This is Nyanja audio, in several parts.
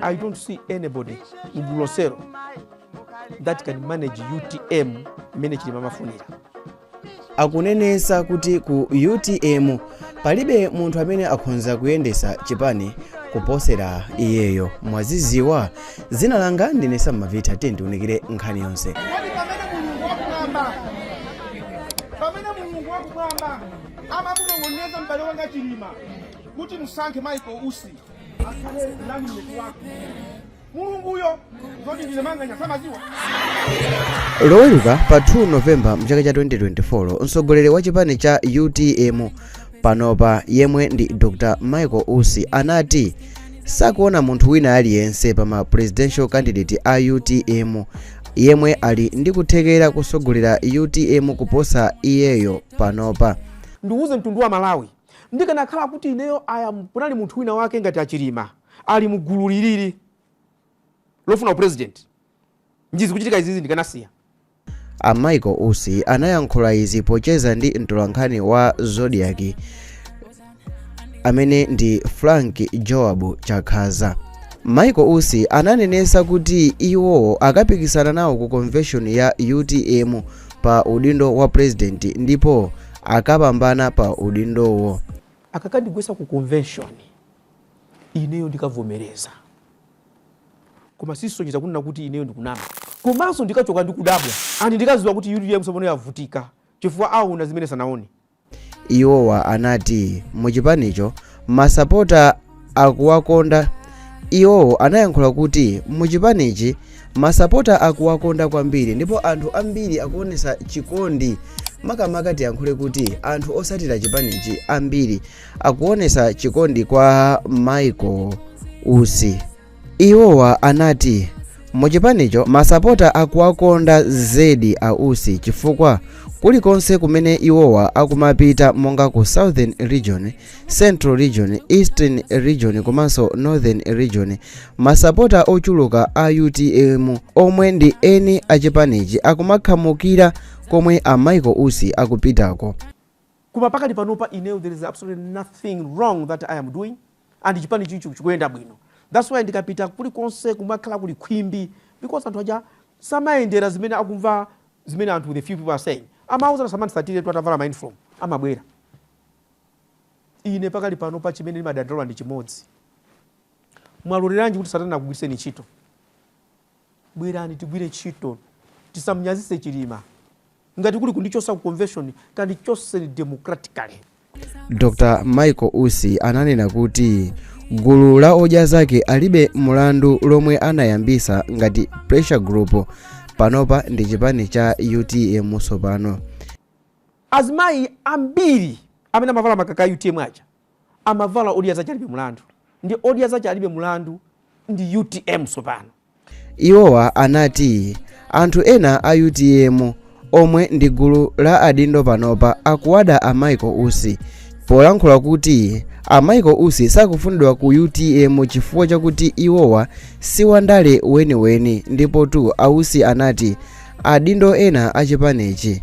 I don't see anybody mgulu iwe lero that can manage UTM mmene chilima amafunira akunenesa kuti ku utm palibe munthu amene akhonza kuyendesa chipani kuposera iyeyo mwaziziwa zina langa ndine samavitha tiyeni tiunikire nkhani yonse pamene mulungu wakumwamba amamunong'oneza m'bale wanga chilima kuti musankhe michael usi akhale running mate wako mulunguyo zoti ndine manganya samaziwa loweruka pa 2 novemba mchaka cha 2024 mtsogoleri wa chipani cha utm panopa yemwe ndi dr michael usi anati sakuona munthu wina aliyense pa ma presidential candidate a utm yemwe ali ndi kuthekera kutsogolera utm kuposa iyeyo panopa ndiuze mtundu wa malawi ndikanakhala kuti ineyo aya kunali munthu wina wake ngati achilima ali mu gulu lilili lofuna upresident njizi kuchitika izizi ndikanasiya a michael usi anayankhula izi pocheza ndi mtolankhani wa zodiak amene ndi frank joab chakhaza michael usi ananenesa kuti iwo akapikisana nawo ku convention ya utm pa udindo wa president ndipo akapambana pa udindowo. Akakandigwetsa ku convention ineyo ndikavomereza koma sisonyeza kunena kuti ineyo ndikunama komanso ndikachoka ndi kudabwa and ndikaziwa kuti utm tsopono yavutika chifukwa aona zimene sanaone. Iwowa anati mu chipanicho ma sapota akuwakonda iwowo anayankhula kuti muchipanichi masapota akuwakonda kwambiri ndipo anthu ambiri akuonesa chikondi makamaka tiyankhule kuti anthu osatira chipanichi ambiri akuonesa chikondi kwa michael usi Iwowa anati, Mu chipanicho masapota akuwakonda zedi a Usi chifukwa kulikonse kumene iwowa akumapita monga ku Southern Region, Central Region, Eastern Region komanso Northern Region, masapota ochuluka a utm omwe ndi eni a chipanichi akumakhamukira komwe a Michael Usi akupitako. Koma pakali panopa ineyo there is absolutely nothing wrong that I am doing and chipanichi chikuyenda bwino that's why ndikapita kulikonse kumakhala kuli khwimbi because anthu aja samayendera zimene akumva zimene anthu the few people are saying amauza asamandisatire tu atavala ma uniform amabwera ine pakali panopa chimene ndimadandaula ndi chimodzi mwaloleranji kuti satana akugwiriseni ntchito Bwerani tigwire ntchito tisamunyazitse Chilima. Ngati kuli kundichotsa ku convention tandichotseni democratically. Dr Michael Usi ananena kuti gulu la odya zake alibe mulandu lomwe anayambisa ngati pressure group panopa ndi chipani cha utm tsopano. Azimayi ambiri amene amavala makaka a utm aja Amavala odya zake alibe mulandu ndi odya zake alibe mulandu ndi utm tsopano. Iwowa anati anthu ena a utm omwe ndi gulu la adindo panopa akuwada a Michael Usi polankhula kuti a Michael Usi sakufunidwa ku utm chifukwa chakuti iwowa si wandale weniweni. Ndipotu a Usi anati adindo ena a chipanichi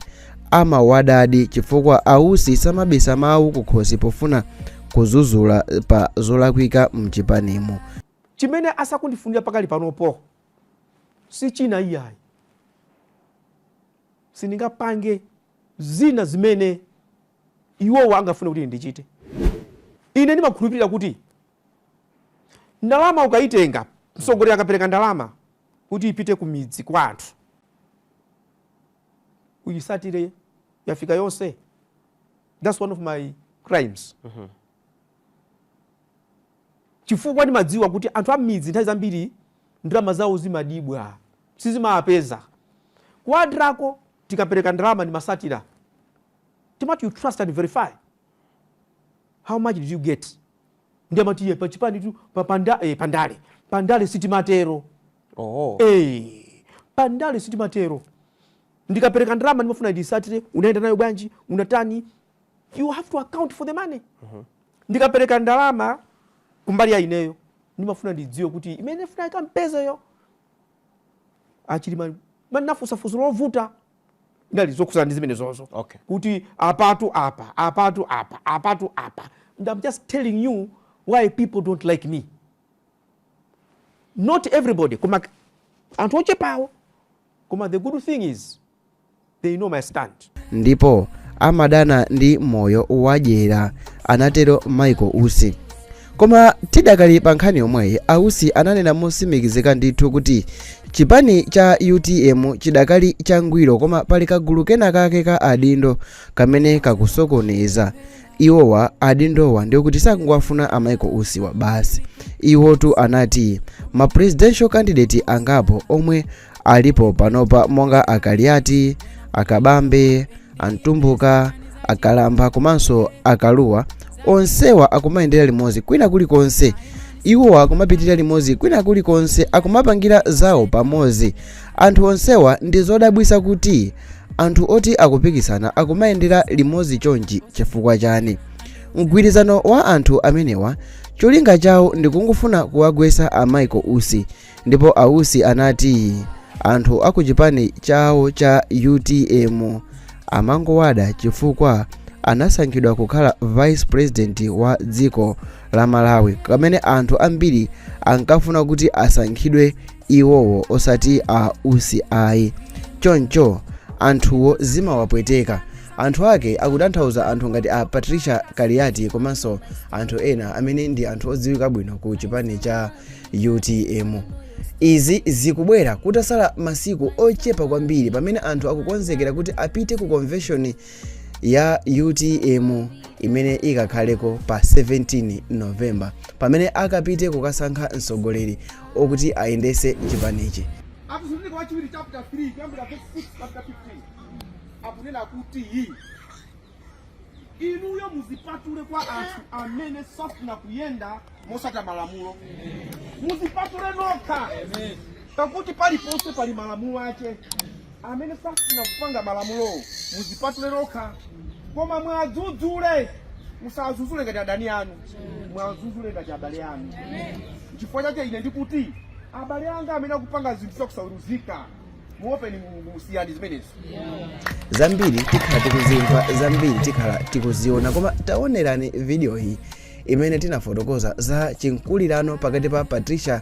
amawadadi chifukwa ausi samabisa mawu kukhosi pofuna kuzuzula pa zolakwika mchipanimo chimene asakundifunira pakali panopo si china iyayi sindingapange zina zimene iwowa angafune kuti ndichite ine ndimakhulupirira kuti ndalama ukayitenga msogoleri akapereka ndalama kuti ipite ku midzi kwa anthu uyisatire yafika yonse thats one of my crimes mm -hmm. chifukwa ndimadziwa kuti anthu am'midzi nthawi zambiri ndalama zawo zimadyibwa sizimawapeza ku Admarc-ko tikapereka ndalama ndimasatira timati you trust and verify how much did you get ndiye amati iye pachipanitu pa panda, eh, pandale pandale sitimatero Oho. Eh, pandale sitimatero ndikapereka ndalama ndimafuna ndisatire unayenda nayo bwanji unatani you have to account for the money mhm. ndikapereka ndalama kumbali ya ineyo ndimafuna ndidziwe kuti amene ndifuna ikampezeyo a Chilima munafusa fuso lovuta n'dali zokhuzana ndi zimene zozo okay. kuti apatu apa apatu apa apatu apa and i'm just telling you why people don't like me not everybody koma anthu ochepawo koma the good thing is they know my stand. ndipo amadana ndi moyo wadyera anatero michael usi koma tidakali pa nkhani yomweyi ausi ananena mosimikizika ndithu kuti chipani cha utm chidakali changwiro koma pali kagulu kena kake ka adindo kamene kakusokoneza iwowa adindowa ndiyo kuti sakungowafuna a Michael Usiwa basi iwotu anati ma presidential candidate angapo omwe alipo panopa monga a Kaliati a Kabambe a Mtumbuka a Kambala komanso a Kalua onsewa akumayendera limodzi kwina kulikonse iwowa akumapitirira limodzi kwina kulikonse akumapangira zawo pamodzi anthu onsewa ndi zodabwisa kuti Anthu oti akupikisana akumayendera limodzi chonchi chifukwa chani? Mgwirizano wa anthu amenewa cholinga chawo ndikungofuna kuwagwesa a Michael Usi ndipo a Usi anati anthu akuchipani chawo cha utm amangowada chifukwa anasankhidwa kukhala vice president wa dziko la Malawi kamene anthu ambiri ankafuna kuti asankhidwe iwowo osati a usi ayi choncho anthuwo zimawapweteka anthu ake akutanthauza anthu ngati a patricia kaliati komanso anthu ena amene ndi anthu odziwika bwino ku chipani cha utm izi zikubwera kutasala masiku ochepa kwambiri pamene anthu akukonzekera kuti apite ku konveshoni ya utm imene ikakhaleko pa 17 novemba pamene akapite kukasankha mtsogoleri okuti ayendese chipanichi. Atesalonika Wachiwiri chapter 3 kuyambira verse 6 up to 15 akunena kuti inuyo muzipatule kwa anthu amene safuna kuyenda mosata malamulo, muzipatule nokha, pakuti paliponse pali malamulo ache. amene safuna kupanga malamulowo muzipatule nokha koma mwadzudzule musadzudzule ngati adani anu mwadzudzule ngati abale anu chifukwa chake ine ndikuti abale anga amene akupanga zinthu zakusaweruzika muopeni mulungu muzisiye zimenezo zambiri tikhala tikuzimva zambiri tikhala tikuziona koma taonerani video iyi imene tinafotokoza za chimkulirano pakati pa patricia